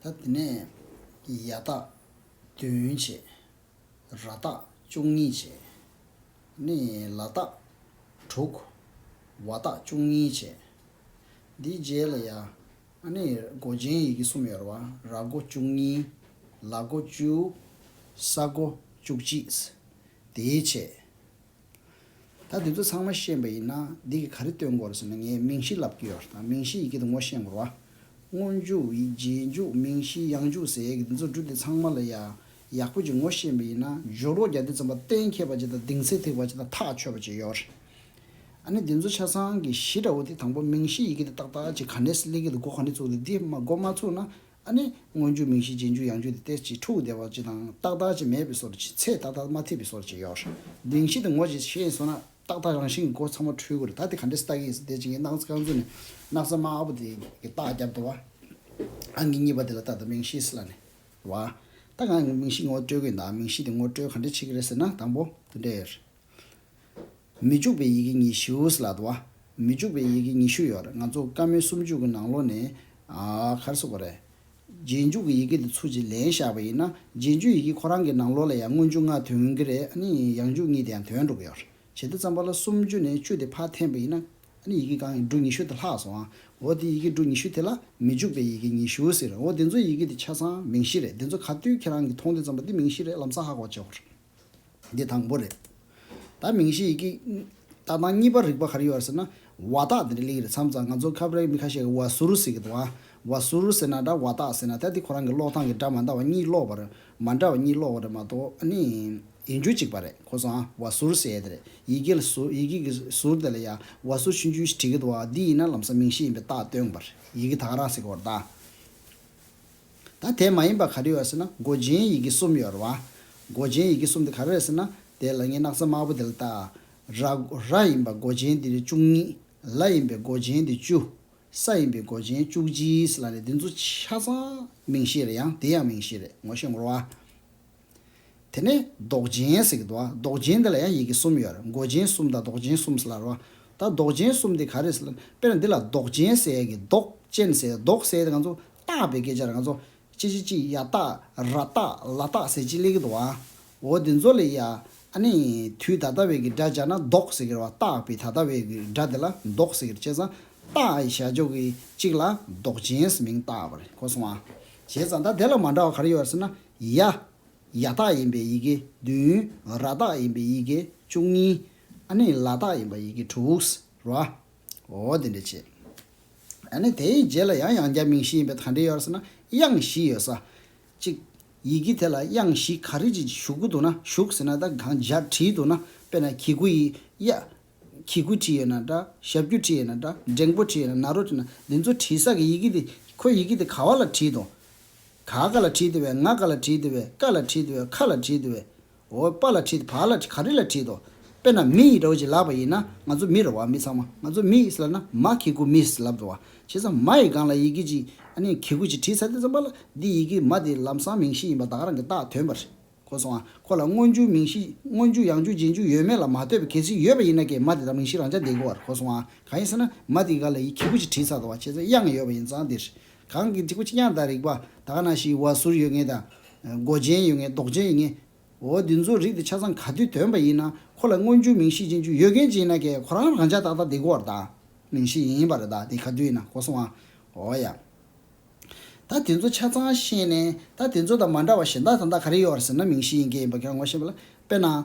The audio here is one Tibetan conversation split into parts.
ད་དེ་ནས་ཡ་སྟག་བདུན་བྱས། ར་སྟག་བཅུ་གཉིས་བྱས། ནས་ལ་སྟག་དྲུག། བ་སྟག་བཅུ་གཉིས་བྱས། དེའི་རྗེས་ལ་ཡ། ནས་སྒོ་ཅན་ཡི་གེ་གསུམ་ཡོད་ར་བ་ར་སྒོ་བཅུ་གཉིས། ལ་སྒོ་བཅུ། ས་སྒོ་བཅུ་གཅིག། དེའི་བྱས། ད་འདི་ཚོ་ཚང་མ་ཤེས་པ་ཡིན་ན་འདི་གི་ག་རེ་སྟོན་དགོས་རེད་ཟེར་ན་ངས་མིང་གཞི་ལབ་ཀྱི་ཡོད་རེད་མིང་གཞི་ཡི་གེ་དང་ངོ་ཤེས་དགོས་ར། སྔོ་འཇུག་རྗེས་འཇུག་མིང་གཞི་ཡང་འཇུག་ཟེར་ཡས་ཀྱི་འདི་ཚོ་འབྲུ་འདི་ཚང་མ་ལ་ཡ་ཡག་པོ་ཅིག་ངོ་ཤེས་པ་ཡིན་ན་སྦྱོར་རོགས་རྒྱ་འདི་ཙམ་པ་གཏན་འཁེལ་པ་ཅིག་དང་ལྡིང་ཚད་ཐིག་པ་ཅིག་དང་ཐག་ཆོད་པ་ཅིག་ཡོད་རེད། ཨ་ནི་འདི་ཚོ་ཆ་ཚང་གི་གཞི་འདྲ་བོ་དེ་དང་པོ་མིང་གཞི་ཡི་གེ་དེ་ཏག་ཏག་ཅིག་ག་ནས་སླེབས་ཀྱི་འདུག་སྒོ་ག་ནས་ཚུགས་འདུག་འདི་སྒོ་མ་ཚུགས་ན་ཨ་ནི། སྔོན་འཇུག་མིང་གཞི་རྗེས་འཇུག་ཡང་འཇུག་དེ་སྟེ་གཅིག་ཕྲུགས་བདེ་བ་ཅི་དང་རྟག་མཐའ་ཅི་མེད་པའི་སོར་ཅི་ཚད་རྟག་མཐའ་མ་ཐིག་པའི་སོར་ཅི་ཡོ་གདིང་བཞི་དང་ངོ་བཞི་ཤེས་སོ་ན་རྟག་མཐའ་རང་བཞིན་གྱི་སྒོ་ཚང་མ་འཁྲུལ་དགོས་རེད་ད་དེ་ག་འདྲའི་སྟག་གི་ཡིན་ཟེར་དེ་བྱིངས་ཀྱི་སྣག་ཚ་རྐང་ཚུགས་ནས་སྣག་ཚ་དམར་པོ་དེ་གི་རྟག་རྒྱབ་ཏུ་བ་ཨང་གི་གཉིས་པ་དེ་ལ་རྟག་ཏུ་མིང་གཞིའི་སི་ལ་ནས་བ་རྟག་ཨང་གི་མིང་གཞི་ངོ་སྤྲོད་དགོས་ཡིན་ད་མིང་གཞི་དེ་ངོ་སྤྲོད་ག་འདྲས་བྱེད་ཀྱི་རེད་ཟེར་ན་དང་པོ་དུ་འདྲེ་མི་འཇུག་པའི་ཡི་གེ་ཉི་ཤུའོ་སི་ལ་ཏུ་བ། མི་འཇུག་པའི་ཡི་གེ་ཉི་ཤུ་ཡོད་རེད་ང་ཚོ་བཀའ་མོལ་སུམ་ཅུ་གི་ནང་ལོ་ནས་གར་སོ་པ་རེད། རྗེས་འཇུག་གི་ཡི་གེ་དེ་ཚུར་གྱིས་ལེན་བཞག་པ་ཡིན་ན་རྗེས་འཇུག་ཡི་གེ་ཁོ་རང་གི་ནང་ལོ་ལ་ཡང་སྔོན་འཇུག་སྔ་དོན་གྱི་རེད་ཨ་ནི་ཡང་འཇུག་གཉིས་དེ་ཡང་དོན་འགྲུབ་ཡོད་རེད་ཇི་ལྟར་བརྩམས་པ་ལ་སུམ་ཅུ་ནས་བཅུ་དེ་ཕར་འཐེན་པ་ཡིན་ན་ཡི་གེ་གང་ཡིན་འབྲུ་ཉི་ཤུ་དེ་ལྷག་སོང་ཨ་འོ་དེ་ཡི་གེ་འབྲུ་ཉི་ཤུ་དེ་ལ་མི་འཇུག་པའི་ཡི་གེ་ཉི་ཤུའོ་སི་རེད་འོ་དེ་ཚོའི་ཡི་གེ་དེ་ཆ་ཚང་མིང་གཞི་རེད་དེ་ཚོ་ག་དུས་ཁྱེད་རང་གིས་མཐོང་དུས་བརྩམས་པ་དེ་མིང་གཞི་རེད་ལམ་སང་ཧ་གོ་བྱེད་དགོས་རེད། འདི་དང་པོ་རེད། ད་མིང་གཞི་ཡི་གེ་ཏག་ཏག་གཉིས་པར་རིག་པ་ག་རེ་ཡོད་ཟེར་ན། བ་ཏག་དེ་འདྲ་ལེགས་རེད་མཚམས་རྩ་ང་ཚོ་ཁ་བརྡའི་མི་ཁ་ཤས་ཀྱིས་བ་ཟུར་ཟེར་གི་འདུག་ཨ། བ་ཟུར་ཟེར་ན་འདྲ་བ་ཏག་ཟེར་ན་ཐལ་དེ་ཁོ་རང་གི་ཀློག་སྟངས་ཀྱི་སྒྲ་མ་འདྲ་བ་གཉིས་ཀློག་པར་མ་འདྲ་བ་གཉིས་ཀློག་བ་རེད་མ་གཏོགས་ཨ་ནི། ཡིན་རྒྱུ་གཅིག་པ་རེད་ཁོ་ཚོ་ཨ་བ་ཟུར་ཟེར་ཡས་དེ་རེད་ཡི་གེ་ལ་ཟུར་ཡི་གེ་གི་ཟུར་དེ་ལ་ཡ་བ་ཟུར་ཕྱིན་རྒྱུ་ཞིག་བྲིས་ཀྱི་འདུག་ཨ་འདི་ཡིན་ན་ལམ་སང་མིང་གཞི་ཡིན་པའི་རྟགས་སྟོན་གི་པ་རེད་ཡི་གེ་ད་ག་རང་ཟེར་གི་བར་ད། ད་དེ་མ་ཡིན་པ་ག་རེ་ཡོད་ཟེར་ན་མགོ་སྦྱིན་ཡི་གེ་གསུམ་ཡོད་རེད་བ། མགོ་སྦྱིན་ཡི་གེ་གསུམ་དེ་ག་རེ་རེད་ཟེར་ན་དེ་ལ་ངའི་སྣག་ཚ་དམར་པོ་དེ་ལ་བལྟ། ར། ར་ཡིན་པ་མགོ་སྦྱིན་དེ་རེ་བཅུ་གཉིས། ལ་ཡིན་པའི་མགོ་སྦྱིན་དེ་བཅུ། ས་ཡིན་པའི་མགོ་སྦྱིན་བཅུ་གཅིག་ཟེར་ལ་རེད་འདི་ཚོ་ཆ་ཚང་མིང་གཞི་རེད་ཡང་དེ་ཡང་མིང་གཞི་རེད་ངོ་ཤེས་ངོ་ར་བ། དེ་ནས་ཟློག་སྦྱིན་ཟེར་གྱི་འདུག་ཨ་ཟློག་སྦྱིན་འདི་ལ་ཡང་ཡི་གེ་གསུམ་ཡོད་རེད་འགོ་སྦྱིན་གསུམ་དང་ཟློག་སྦྱིན་གསུམ་ཟེར་ལ་རོ། ད་ཟློག་སྦྱིན་གསུམ་འདི་ག་རེད་ཟེར་ལ་དཔེར་ན་འདི་ལ་ཟློག་སྦྱིན་ཟེར་ཡ་གི་ཟློག་ཅན་ཟེར་ཟློག་ཟེར་དེ་ང་ཚོ་བཏགས་པའི་སྐད་ཆ་རེད་ང་ཚོ་ཅི་ཅི་ཅི་ཡ་བཏགས་ར་བཏགས་ལ་བཏགས་ཟེར་ཅི་ལས་གི་འདུག་ཨ། འོ་དེ་ཚོ་ལས་ཡ་ཨ་ནི་དུས་ད་ལྟ་བའི་གི་སྒྲ་སྦྱར་ན་ཟློག་ཟེར་གི་རེད་བ་བཏགས་པའི་ད་ལྟ་བའི་གི་སྒྲ་དེ་ལ་ཟློག་ཟེར་གི་རེད་བྱས་ཙང་བཏགས་ཨ་ཡི་ཞར་འཇོག་གི་གཅིག་ལ་ཟློག་སྦྱིན་ཟེར་མིང་བཏགས་པ་རེད་གོ་སོང་ཨ། བྱས་ཙང་ད་དེ་ལ་མ་འདྲ་བ་ག་རེ་ཡོད་རེད་ཟེར་ན་ཡ། ཡ་དག་ཡིན་པའི་ཡི་གེ་བདུན། ར་དག་ཡིན་པའི་ཡི་གེ་བཅུ་གཉིས། ཨ་ནི་ལ་དག་ཡིན་པའི་ཡི་གེ་དྲུག། ར། འོ་དེ་འདྲ་བྱེད། ཨ་ནི་དེའི་རྗེས་ལ་ཡང་ཡང་བརྒྱ་མིང་བཞི་ཡིན་པའི་དང་འབྲེལ་ཡོད་ཟེར་ན་དབྱངས་བཞི་ཡོད་ས། གཅིག། ཡི་གེ་དེ་ལ་དབྱངས་བཞི་ག་རེ་ཅིག་ཞུགས་ཀྱི་འདུག་ན་བཞུགས་ཟེར་ན་ད་གང་འཇགས་བྲིས་འདུག་ན་དཔེར་ན་གྱི་གུ་ཡི། ཡ། གྱི་གུ་བྲིས་ཡོད་ན་འདྲ། ཞབས་ཀྱུ་བྲིས་ཡོད་ན་འདྲ། འགྲེང་པོ་བྲིས་ཡོད་ན་ན་རོ་བྲིས་ན་འདི་ཚོ་བྲིས་ས་གི་ཡི་གེ་དེ་ཁོའི་ཡི་གེ་དེ་ག་བ་ལ་བྲིས་དང། ག་ག་ལ་བྲིད་བའི་ང་ག་ལ་བྲིད་བའི་ཀ་ལ་བྲིད་བའི་ཁ་ལ་བྲིད་བའི་འོ་པ་ལ་བྲིད་བ་ལ་བྲིད་ག་རི་ལ་བྲིད་དོ། དཔེར་ན་མི་ཡི་ར་བ་ཅིག་ལབ་པ་ཡིན་ན་ང་ཚོ་མི་ར་བ་མི་ཚང་མ་ང་ཚོ་མི་ཡིས་ལབ་ན་མ་གི་གུ་མིས་ལབ་འགྲོ་བ་བྱས་ཙང་མ་ཡི་སྒང་ལ་ཡི་གེ་ཅིག་ཨ་ནི་གི་གུ་ཅིག་བྲིས་ཚར་དེ་ཙམ་པ་ལ་འདི་ཡི་གེ་མ་དེ་ལམ་སང་མིང་གཞི་ཡིན་པ་བདག་རང་གི་བཏགས་དོན་པ་རེད། ཁོ་སོང་ཨ། ཁོ་ལ་སྔོན་འཇུག་མིང་གཞི། སྔོན་འཇུག་ཡང་འཇུག་རྗེས་འཇུག་ཡོད་མེད་ལ་མ་ལྟོས་པའི་གལ་སྲིད་ཡོད་པ་ཡིན་ན་ཀྱེ་མ་དེ་དག་མིང་གཞི་རང་ཅག་འདེད་དགོས་བར་ཁོ་སོང་ཨ། གང་ཡིན་ཟེར་ན། མ་དེ་ག་ལ་ཡི་གེ་བུ་གཅིག་བྲིས་ཚར་དང་བ་ཁྱེད་ཚོའི་དབྱངས་ཡོད་པ་ཡིན་ཙང་འདིར། གང་གི་གཅིག་པུ་གཅིག་དབྱངས་དང་རིགས་པ་ད་ག་ན་ཞིག་བ་ཟུར་ཡོད་ངེས་དང། མགོ་ཅན་ཡོད་ངེས་མདོག་ཅན་ཡིན་ངེས། འོ་འདི་ཚོའི་རིགས་དེ་ཆ་ཚང་ག་དུས་དོན་པ་ཡིན་ན་ཁོ་ལ་སྔོན་འཇུག་མིང་གཞི་རྗེས་འཇུག་ཡོད་མཁན་ཅིག་ཡིན་ན་ཀྱེ་ཁོ་རང་རང་ཅག་ཏག་ཏག་འདེད་དགོས་བར་ད། མིང་གཞི་ཡིན་པ་རེད་ད་དེ་ག་དུས་ཡིན་ན་ཁོ་སོང་ཨ། འོ་ཡ། ད་དེ་ཚོ་ཆ་ཚང་ཤེས་ནས་ད་དེ་ཚོ་དང་མ་འདྲ་བ་གཞན་དག་དང་དག་ག་རེ་ཡོད་རེད་ཟེར་ན་མིང་གཞི་ཡིན་གྱི་ཡིན་པ་གྱང་ངོ་ཤེས་པ་ལ་དཔེར་ན།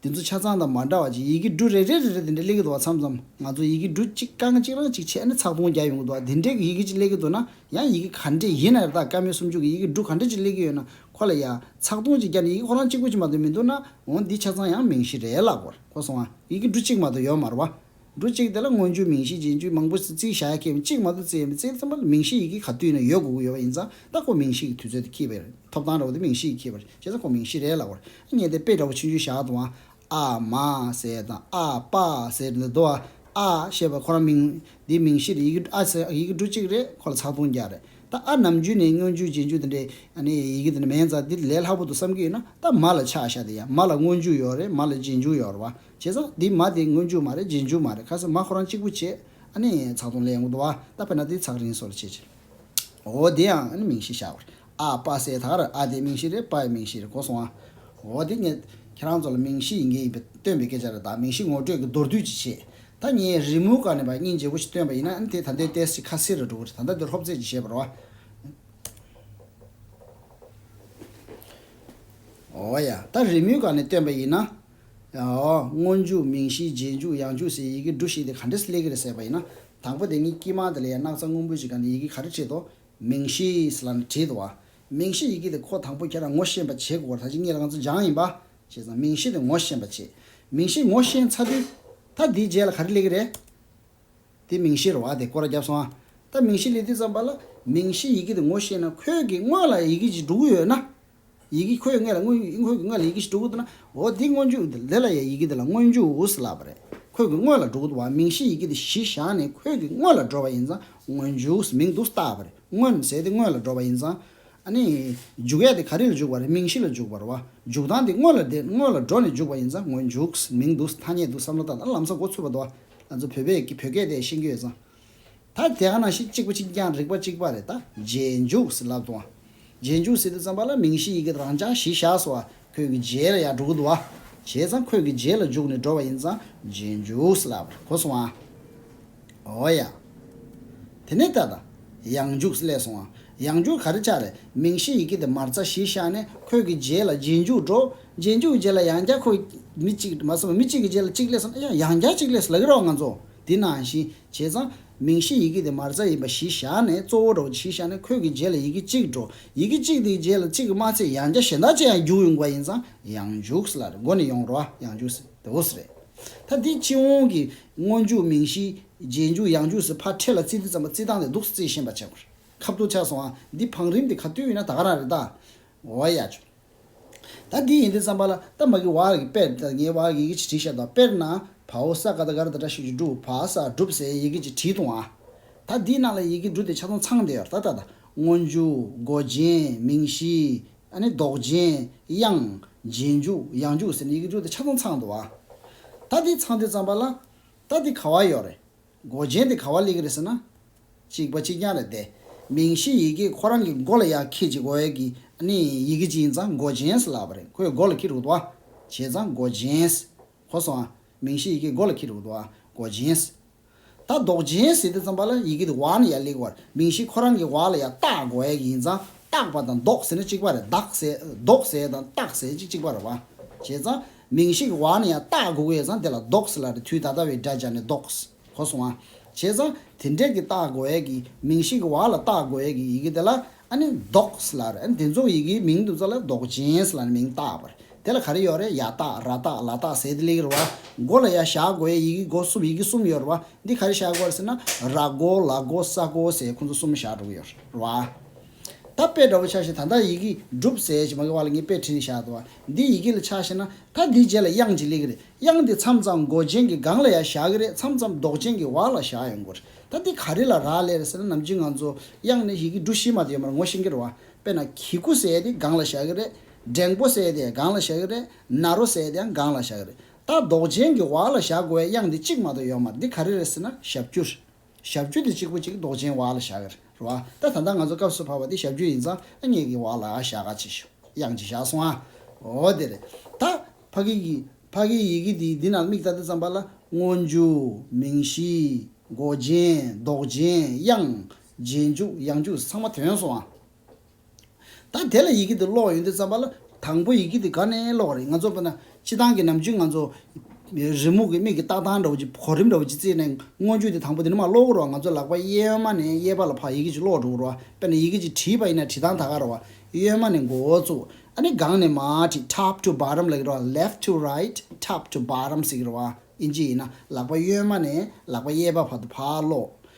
དེ་ཚོ་ཆ་ཚང་དང་མ་འདྲ་བ་ཅིག་ཡི་གེ་འབྲུ་རེ་རེ་རེ་རེ་དེ་འདྲས་གླེགས་གི་འདུག་བ་མཚམས་མཚམས་ང་ཚོ་ཡི་གེ་འབྲུ་གཅིག་རྐང་གཅིག་རང་གཅིག་ཕྱེས་ནས་ཚགས་སྟོང་བརྒྱ་ཡོང་གི་འདུག་བ་དེ་འདྲས་ཀྱི་ཡི་གེ་ཅིག་གླེགས་ཀྱི་འདུག་ན་ཡང་ཡི་གེ་ག་འདྲས་ཡིན་ན་རེ་ད་ག་མི་སུམ་ཅུ་གི་ཡི་གེ་འབྲུ་ག་འདྲས་ཅིག་གླེགས་ཀྱི་ཡོད་ན་ཁོ་ལ་ཡ། ཚགས་སྟོང་གཅིག་བརྒྱ་ནི་ཡི་གེ་ཁོ་རང་གཅིག་པོ་ཅིག་མ་གཏོགས་མི་འདུག་ན་འོང་འདི་ཆ་ཚང་ཡང་མིང་གཞི་རེད་ལགས་གོ་སོང་ཨ། ཡི་གེ་འབྲུ་གཅིག་མ་གཏོགས་ཡོད་མ་རུ་བ། འབྲུ་གཅིག་དེ་ལ་སྔོན་བྱུང་མིང་གཞི་རྗེས་འཇུག་མང་པོ་བརྩི་བྱ་ཡག་གེ་མོ་གཅིག་མ་གཏོགས་བརྩི་ཡ་མེད་བརྩིའི་ཚེ་མ་མིང་གཞི་ཡི་གེ་ག་དུས་ན་ཡོད་དགོས་དགོས་ཡོད་པ་ཡིན་ཙང་རྟག་ཁོ་མིང་གཞི་ཡི་དུས་ཚོད་དེ་ཁྱི་བེར་ཐོབ་ཐང་རེད་བ་དེ་མིང་གཞི་ཡི་གེ་བེར་བྱས་ཙང་ཁོ་མིང་གཞི་རེད་ལ་བར་སྙན་དེ་དཔེ་འདྲ་བོ་ཆུང་ཆུང་བཞག་འདུག་ཨང། ཨ་མ་ཟེར་དང་ཨ་ཕ་ཟེར་འདི་འདུག་ཨ་ཞེས་པ་ཁོ་རང་མིང། འདི་མིང་གཞི་རེད་ཡི་གེ་ཨ་ཟེར་ཡི་གེ་འབྲུ་གཅིག་རེད་ཁོ་ལ་ཚགས་དུང་བརྒྱ་རེད་ད་ཨ་ནམ་རྒྱུན་ནས་སྔོན་བྱུང་རྗེས་འཇུག་དེ་འདྲའི་ཡི་གེ་དེ་འདྲ་མེད་ཙང་འདི་ལས་སླ་པོ་འདུག་བསམ་གྱི་ཡོད་ན་ད་མ་ལ་ཆགས་བཞག་དེ་ཡ་མ་ལ་སྔོན་བྱུང་ཡོད་རེད་མ་ལ་རྗེས་འཇུག་ཡོད་རེད་བ། བྱས་ཙང་འདི་མ་དེ་སྔོན་འཇུག་མ་རེད་རྗེས་འཇུག་མ་རེད་ཁ་སང་མ་ཁོ་རང་གཅིག་པུ་བྱས་ཨ་ནི་ཚགས་དུང་ལས་ཡོང་གི་འདུག་བ་ད་ཕེར་ན་དེ་ཚགས་རིང་སོ་ལ་བྱས་བྱས་འོ་དེ་ཡང་ཨ་ནི་མིང་གཞི་བཞག་པར་ཨ་པ་སའི་དག་རེད་ཨ་དེ་མིང་གཞི་རེད་པ་ཡི་མིང་གཞི་རེད་གོ་སོང་ཨ་འོ་དེ་ངས་ཁྱེད་རང་ཚོ་ལ་མིང་གཞི་ཡིན་གྱི་ཡིན་པའི་སྟོན་པའི་སྐད་ཆ་རེད་ད་མིང་གཞི་ངོ་སྤྲོད་ཀྱི་མདོར་བསྡུས་ཅིག་བྱེད་ད་ངས་རི་མོའི་སྐར་ནས་པ་སྙིང་རྗེ་བོ་ཞིག་སྟོན་པ་ཡིན་ན་ཨ་ནི་དེ་ད་འདོད་ཏེས་ཅི་ཁ་སིར་རེ་འགྲོ་གི་རེད་ད་ལྟ་འདི་ལྷོ་བཙས་ཀྱི་བྱས་པར་བ། འོ་ཡ་ད་རི་མོའི་སྐར་ནས་སྟོན་པ་ཡིན་ན། སྔོན་འཇུག་མིང་གཞིའི་རྗེས་འཇུག་ཡང་འཇུག་སའི་ཡི་གེ་འབྲུ་ཞིག་དེ་ག་འདྲས་སུ་སླེབས་ཀྱི་རེད་ཟེར་བ་ཡིན་ན། དང་པོ་དེ་གཉིས་དཀྱིལ་མ་དེ་ལ་ཡང་སྣག་ཚ་སྔོན་པོའི་གཞི་ག་ནས་ཡི་གེ་ག་རེ་བྲིས་དོ། མིང་གཞིས་ལ་ནི་བྲིས་འདུག་བ། མིང་གཞི་ཡི་གེ་དེ་ཁོ་དང་པོ་ཁྱེད་རང་ངོ་ཤེས་པ་བྱེད་དགོས་བར་ཐ་ཇི་སྙེད་ལ་ང་ཚོ་སྦྱངས་ཡིན་པ། བྱས་ཙང་མིང་གཞི་དེ་ངོ་ཤེས་པ་བྱེད། མིང་གཞི་ངོ་ཤེས་ཚར་དུས། ད་འདིའི་རྗེས་ལ་ག་རེ་སླེབས་ཀྱི་རེད། དེ་མིང་གཞིར་བ་དེ་ཀོ་ར་བརྒྱབ་སོང་ཨ། ད་མིང་གཞི་སླེབས་དུས་ཙམ་པ་ལ། མིང་གཞི་ཡི་གེ་དེ་ངོ་ཤེས་ན་ཁོས་ཀྱིས་དངོས་ལ་ཡི་གེ་གཅིག་འབྲུ་དགུ་ཡོད་ན། ཡི་གེ་ཁོའི་མངལ་ལ་མངོན་འཇུག་ཡིན་ཁོའི་གི་མངལ་ལ་ཡི་གེ་ཞེས་འབྲུ་གུ་འདུག་ན། འོ་དེ་མངོན་འཇུག་འདི་ལེ་ལ་ཡའི་ཡི་གེ་འདི་ལ་མངོན་འཇུག་འུ་སི་ལ་བ་རེད། ཁོའི་གི་དངོས་ལ་འབྲུ་གུ་འདུག་བ་མིང་གཞི་ཡི་གེ་དེ་གཞི་བཞག་ནས་ཁོའི་གི་དངོས་ལ་འགྲོ་བ་ཡིན་ཙང་མངོན་འཇུག་སི་མིང་འདུག་སི་བཏགས་བ་རེད་མངོན་གསལ་དེ་དངོས་ལ་འགྲོ་བ་ཡིན་ཙང། ཨ་ནི། འཇུག་ཡ་དེ་ག་རེ་ལ་འཇུག་བ་རེད་མིང་གཞི་ལ་འཇུག་བ་རེད་བ་འཇུག་སྟངས་དེ་དངོས་ལ་དེ་དངོས་ལ་འགྲོ་ནས་འཇུག་བ་ཡིན་ཙང་མངོན་འཇུག་སི་མིང་འདུག་སི་ཐ་སྙད་འདུག་བསམ་བློ་བཏང་ད་ལམ་ས་འགོ་ཚུད་པ་འདུག་བ་ང་ཚོ་བོད་པས་གི་བོད་སྐད་དེ་ཤེས་ཀྱི་ཡོད་ཙང། ད་དེ་ག་ནང་བཞིན་གཅིག་པ་གཅིག་རྐྱང་རིག་པ་གཅིག་པ་རེད་ད་རྗེས་འཇུག་སི་ལབ་ཏུ་བ། རྗེས་འཇུག་སི་དུ་ཙམ་པ་ལ་མིང་གཞི་ཡི་གེ་རང་སྦྱང་གཞི་བཞག་སོ་བ་ཁོད་ཀྱི་རྗེས་ལ་ཡག་འགྲོ་གི་འདུག་བ། བྱས་ཙང་ཁོད་ཀྱི་རྗེས་ལ་འཇུག་ནས་འགྲོ་བ་ཡིན་ཙང་རྗེས་འཇུག་སི་ལབ་གོ་སོང་བ། འོ་ཡ། དེ་ནས་ད་ད་ཡང་འཇུག་སི་ལས་སོང་བ། ཡང་འཇུག་ག་རེ་ཆགས་རེད་མིང་གཞི་ཡི་གེ་དེ་མར་རྩ་གཞི་བཞག་ནས་ཁོད་ཀྱི་རྗེས་ལ་རྗེས་འཇུག་འགྲོ། རྗེས་འཇུག་གི་རྗེས་ལ་ཡང་བསྐྱར་ཁོད་མི་གཅིག་མ་སོང་བ་མི་གཅིག་གི་རྗེས་ལ་གཅིག་སླེབས་སོང་ཨ་ཡ་ཡང་བསྐྱར་གཅིག་སླེབས་སོ་ལ་གི་རོགས་ང་ཚོ། དེ་ནང་བཞིན་བྱས་ཙང། མིང་གཞི་ཡི་གེ་དེ་མར་རྩ་ཡིན་པ་གཞི་བཞག་ནས་གཙོ་བོ་འགྲོ་གཞི་བཞག་ནས་འཁོད་ཀྱི་རྗེས་ལ་ཡི་གེ་གཅིག་འགྲོ། ཡི་གེ་གཅིག་དེའི་རྗེས་ལ་གཅིག་གི་མ་ཚད་ཡང་བརྒྱ་གཞན་དག་ཅི་ཡང་རྒྱུགས་ཡོང་དགོས་པ་ཡིན་ཙང་ཡང་འཇུག་ལ་མགོ་ནས་ཡོང་རོ་ཨ་ཡང་འཇུག་སི་དེ་འོ་སི་རེད། ད་འདི་སྤྱི་འོང་གི་སྔོན་འཇུག་མིང་གཞི་རྗེས་འཇུག་ཡང་འཇུག་སི་ཕར་འཕྲེད་ལ་རྩིས་འདི་ཙམ་པ་རྩིས་སྟངས་དེ་འདུག་རྩིས་ཤེས་པ་བྱེད་དགོས་རེད་ཁ་བསྡུར་ཆགས་སོང་ཨ་འདི་བང་རིམ་དེ་ག་དུས་ཡིན་ན་ད་ག་རང་རེད་ད། འོ་ཡ་ཆུང། ད་འདི་ཡིན་ཏེ་བརྩམས་པ་ལ་ད་མ་གི་བ་ར་གི་པེར་ད་ངའི་བ་ར་གི་ཡི་གེ་ཅིག་བྲིས་ཤག་ད་པེར་ན་བ་ཨོ་ས་ཀ་ད་ག་ར་ད་ཏྲ་ཤིག་ཅུ་ཀྲུ་བ་ཨ་ས་བསྒྲུབས་ཟེ་ཡི་གེ་ཅིག་བྲིས་འདུག་ཨང། ད་འདིའི་ནང་ལ་ཡི་གེ་འབྲུ་དེ་ཆ་ཚང་ཚང་དེ་ཡོད་ར་ད་ད་ད། སྔོ་འཇུ། མགོ་རྗེན། མིང་གཞི། ཨ་ནི་མདོག་རྗེན། དབྱངས། རྗེན་འཇུག། དབྱངས་འཇུག་ཟེར་ནས་ཡི་གེ་འབྲུ་དེ་ཆ་ཚང་ཚང་འདུག་ཨང། ད་འདི་ཚང་དུས་བརྩམས་པ་ལ། ད་འདི་ག་བ་ཡོད་རེད། མགོ་ཅན་དེ་ག་བ་ལིག་རེད་ཟེར་ན། ཅིག་པ་ཅིག་རྐྱང་རེད་དེ། མིང་གཞི་ཡི་གེ་ཁོ་རང་གི་མགོ་ལ་ཡག་ཁྱི་ཅིག་འོད་ཀྱི་ནི་ཡི་གེ་ཅིག་ཡིན་ཙང་མགོ་ཅན་ཟེར་ལབ་པ་རེད་ཁོས་མགོ་ལ་ཁྱི་རུག་ཏུ་ཨ། བྱས་ཙང་མགོ་ཅན། གོ་སོང་ཨ། མིང་གཞི་ཡི་གེ་མགོ་ལ་ཁྱི་རུག་ཏུ་ཨ། མགོ་ཅན། ད་མདོག་ཅན་ཟེར་དུས་ཙམ་པ་ལ་ཡི་གེ་དེ་བ་ནི་ཡ་ལིག་བར་མིང་གཞི་ཁོ་རང་གི་བ་ལ་ཡ་སྟག་འོད་ཀྱི་ཡིན་ཙང་སྟག་པ་དང་མདོག་ཟེར་ན་ཅིག་པ་རེད་བདག་ཟེར་མདོག་ཟེར་དང་སྟག་ཟེར་ཅིག་ཅིག་པ་རེད་བ། བྱས་ཙང་མིང་ཞིག་བ་ནི་ཡང་བཏགས་དགོས་ཀྱི་ཡོད་ཙང་དེ་ལ་རྡོག་སི་ལ་རི་ཐུའི་ད་ལྟ་བའི་སྒྲ་སྦྱར་ནས་རྡོག་སི་གོ་སོང་ཨ། བྱས་ཙང་དེ་འདྲས་ཀྱི་བཏགས་དགོས་ཡས་ཀྱི་མིང་ཞིག་བ་ལ་བཏགས་དགོས་ཡས་ཀྱི་ཡི་གེ་དེ་ལ་ཨ་ནི་རྡོག་སི་ལ་རི་ཨ་ནི་དེ་ཚོ་ཡི་གེའི་མིང་དུ་བཙལ་ལ་རྡོག་ཅན་སི་ལ་ནི་མིང་བཏགས་པ་རེད་དེ་ལ་ག་རེ་ཡོད་རེད་ཡ་བཏགས་ར་བཏགས་ལ་བཏགས་ཟེ་དེ་ལེགས་རེད་བ། མགོ་ལ་ཡ་བཞག་དགོས་ཡས་ཡི་གེ་མགོ་གསུམ་ཡི་གེ་གསུམ་ཡོད་རེད་བ་འདི་ག་རེ་བཞག་དགོས་རེད་ཟེར་ན་ར་མགོ་ལ་མགོ་ས་མགོ་ཟེ་ཁོང་ཚོ་གསུམ་བཞག་འགྲོ་གི་ཡོད་རེད་བ། ད་དཔེ་འདྲ་བོ་ཆགས་ཤིང་ད་ལྟ་ཡི་གེ་སྒྲུབ་ཟེར་ཞེས་མ་གི་བར་ལ་ངས་དཔེ་བྲིས་ནས་བཞག་འདུག་བ་འདི་ཡི་གེ་ལ་ཆགས་ཤེས་ན་ད་འདིའི་རྗེས་ལ་དབྱངས་ཅིག་སླེབས་གི་རེད་དབྱངས་འདི་མཚམས་མཚམས་མགོ་ཅན་གྱི་སྒང་ལ་ཡང་བཞག་གི་རེད་མཚམས་མཚམས་མདོག་ཅན་གྱི་བར་ལ་བཞག་ཡོང་གི་རེད་ད་འདི་ག་རེ་ལ་རག་ལས་རེད་ཟེར་ན་ནམ་རྒྱུན་ང་ཚོ་དབྱངས་ནི་ཡི་གེ་འབྲུ་བཞི་མ་དེ་ཡོད་མར་ངོ་ཤེས་ཀྱི་རེད་བ་དཔེར་ན་གྱི་སྐུ་ཟེར་དེ་སྒང་ལ་བཞག་གི་རེད་འགྲེང་པོ་ཟེར་དེ་སྒང་ལ་བཞག་གི་རེད་ནཱ་རོ་ཟེར་དེའང་སྒང་ལ་བཞག་གི་རེད་ད་མདོག་ཅན་གྱི་བར་ལ་བཞག་དགོས་བའི་དབྱངས་འདི་གཅིག་མ་གཏོགས་ཡོད་མར་འདི་ག་རེ་རེད་ཟེར་ན་ཞབས་ཀྱུ་རེད། ཞབས་རྒྱུད་དེ་གཅིག་པོ་གཅིག་མདོག་ཅན་བ་ལ་བཞག་གི་རེད་བ། ད་ད་ལྟ་ང་ཚོ་སྐབས་སུ་བབས་པ་འདི་ཞབས་རྒྱུད་ཡིན་ཙང་ཨ་མྱེས་ཀྱི་བ་ལ་བཞག་ག་ཅིག་ཤོག་གཡང་གཅིག་བཞག་སོང་ཨ། འོ་དེ་རེད་ད། ཕ་གི་གི། ཕ་གི་ཡི་གི་དེའི་འདི་ན་དམིགས་བལྟ་དེ་ཙམ་པ་ལ་སྔོ་འཇུ། མིང་གཞི། མགོ་རྗེན། མདོག་རྗེན། གཡང། རྗེན་འཇུག་གཡང་འཇུག་ཚང་མ་དོན་སོང་ཨ། ད་དེ་ལ་ཡི་གེ་འདི་ཀློག་ཡོང་དུས་བརྩམས་པ་ལ་དང་པོ་ཡི་གེ་འདི་ག་ནས་ཀློག་རེད་ང་ཚོ་དཔེར་ན་སྤྱི་དང་གི་ནམ་རྒྱུན་ང་ཚོ་རི་མོ་གི་མིག་གི་ལྟག་སྟངས་འདྲ་བོ་གཅིག་གོ་རིམ་འདྲ་བོ་གཅིག་བརྩིས་ནས་མངོན་བརྗོད་དེ་དང་པོ་དེ་ནི་མ་ཀློག་རོགས་ང་ཚོ་ལག་པ་གཡས་མ་ནས་གཡས་པ་ལ་བར་ཡི་གེ་གཅིག་ཀློག་འགྲོ་དགོས་རོགས་དཔེར་ན་ཡི་གེ་གཅིག་བྲིས་པ་ཡིན་ན་བྲིས་སྟངས་ད་ག་རོགས་གཡོན་མ་ནས་མགོ་བོ་བཙུགས་ཨ་ནི་སྒང་ནས་མ་བྲིས top to bottom ལ་གི་རོགས left to right top to bottom ཟེར་གི་རོགས་ཨིན་ཇི་ཡིན་ན་ལག་པ་གཡོན་མ་ནས་ལག་པ་གཡས་པ་བར་དུ་བར་ཀློག་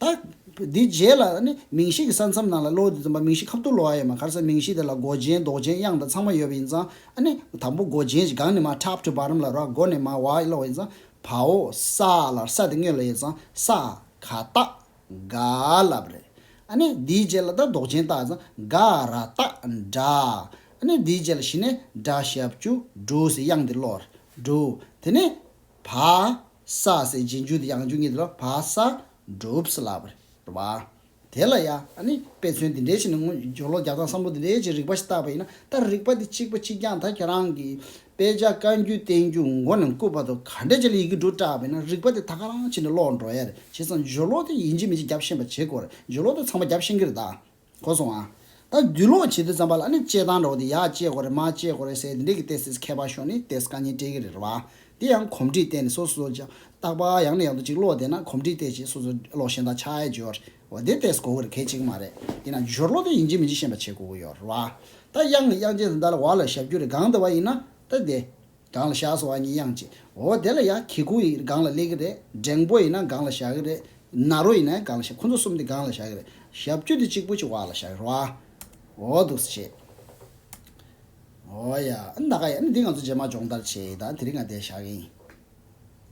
དག། དེའི་རྗེས་ལ་ནི་མིང་གཞི་གི་ས་མཚམས་ནང་ལ་གློ་བོ་དེ་འཛོམས་པ་མིང་གཞི་ཁ་བཏུར་ལོ་བ་ཡོད་མ་ཁར་སའི་མིང་གཞི་དེ་ལ་མགོ་ཅན་མདོག་ཅན་དབྱངས་དང་ཚང་མ་ཡོད་པ་ཡིན་ཙང་ཨ་ནི་དང་པོ་མགོ་ཅན་གྱི་གང་ནི་མ top to bottom ལ་རོག་མགོ་ནི་མ་བ་ལོ་བ་ཡིན་ཙང་བའོ་ས་ལ་ས་དེ་དངོས་ལ་ཡོད་ཙང་ས་ག་ཏག་ག་ལབ་རེད་ཨ་ནི་དེའི་རྗེས་ལ་ད་མདོག་ཅན་ཏག་ཙང་ག་ར་ཏག་འདྲ་ཨ་ནི་དེའི་རྗེས་ལ་ཞི་ནས་འདྲ་ཞབས་ཅུ་འབྲུ་ཟེར་དབྱངས་དེ་ལོར་འབྲུ་དེ་ནི་བ་ས་སེ་སྦྱིན་རྒྱུ་དེ་ཡང་རྒྱུ་གཉིས་དེ་ལ་བ་ས་སྒྲུབ་ས་ལ་བ། དེ་ལ་ཡ་ཨ་ནི་དཔེ་མཚོན་འདི་འདྲའི་ཆེད་ནས་སྔོན་སྦྱོར་ལོ་བརྒྱ་དང་བསམ་བློ་འདི་འདྲའི་ཆེད་རིགས་པ་ཞིག་བཏགས་པ་ཡིན་ན་ད་རིགས་པ་དེ་གཅིག་པ་གཅིག་རྐྱང་ད་ཁྱེད་རང་གིས་དཔེ་ཆ་བཀའ་འགྱུར་བསྟན་འགྱུར་མགོ་ནས་བཀུག་པ་དང་ག་འདྲ་བྱས་ལ་ཡི་གེ་འབྲུ་བཀྲགས་པས་ན་རིགས་པ་དེ་ད་ག་རང་བྱས་ནས་ཀློག་འགྲོ་ཡ་རེད་བྱས་ཙང་སྦྱོར་ལོ་དེ་ཡིན་གཅིག་མིན་གཅིག་རྒྱབ་ཤན་པ་བྱེད་དགོས་རེད་སྦྱོར་ལོ་དེ་ཚང་མ་རྒྱབ་ཤན་གྱི་རེད་ད། གོ་སོང་ཨ། ད་རྒྱུ་ལོག་བྱེད་དུས་ཙམ་པ་ལ་ནི་དཔྱད་སྟངས་འགྲོ་གི་འདུག་ཡ་དཔྱད་གོ་རེ་མ་དཔྱད་གོ་རེ་ཟེར་དེ་འདྲས་ཀྱི་ཏེས་ཏེས་མཁས་པ་ཤོག་ནི་ཏེས་ཀ་ཉིན་སྤྲེལ་གི་རེད་བ། དེ་ཡང་གོམས་འདྲིས་བསྟན་ནས་སོ་སོ་ཅག་རྟག་པ་ཡང་ནས་ཡང་དུ་ཅིག་ཀློག་བསྡད་ན་གོམས་འདྲིས་བསྟན་ཅིག་སོ་སོ་ཀློག་ཤེས་ད་ཆ་ཨའི་རྒྱུ་ལོག་རེད་བ་དེ་ཏེས་གོ་གི་རེད་གལ་ཆེ་གི་མ་རེད་ཡིན་ན་རྒྱུ་ལོག་དེ་ཡིན་གཅིག་མིན་གཅིག་ཤེས་པ་བྱེད་དགོ་གི་ཡོད་རེད་བ། ད་དབྱངས་ནི་དབྱངས་ཅན་དེ་འདྲ་ལ་བ་ལ་ཞབས་རྒྱུ་རེད་གང་ལྟ་བ་ཡིན་ན་ད་དེ། སྒང་ལ་བཞག་སོང་ཨ་མྱེས་དབྱངས་ཅན། འོ་དེ་ལ་ཡང་གི་གུ་ཡིས་སྒང་ལ་སླེབས་ཀྱི་རེད། འགྲེང་པོ་ཡིན་ན་སྒང་ལ་བཞག་གི་རེད། ནཱ་རོ་ཡིན་ན་སྒང་ལ་བཞག་ཁོ་ཚོ་གསུམ་དེ་སྒང་ལ་བཞག་གི་རེད། ཞབས་རྒྱུ་དེ་གཅིག་པོ་ཅིག་བག་ལ་བཞག་གི་རོགས་ཨ། འོ་འདུག་སེ་བྱས། འོ་ཡ། ཨ་ནི་ད་ག་ཡ། ཨ་ནི་འདི་ང་ཚོ་རྗེས་མ་སྦྱོང་བརྡར་བྱས་ཡིན་ད་ཨ་ནི་དེ་རིང་ང་འདས་བཞག་གི་ཡིན།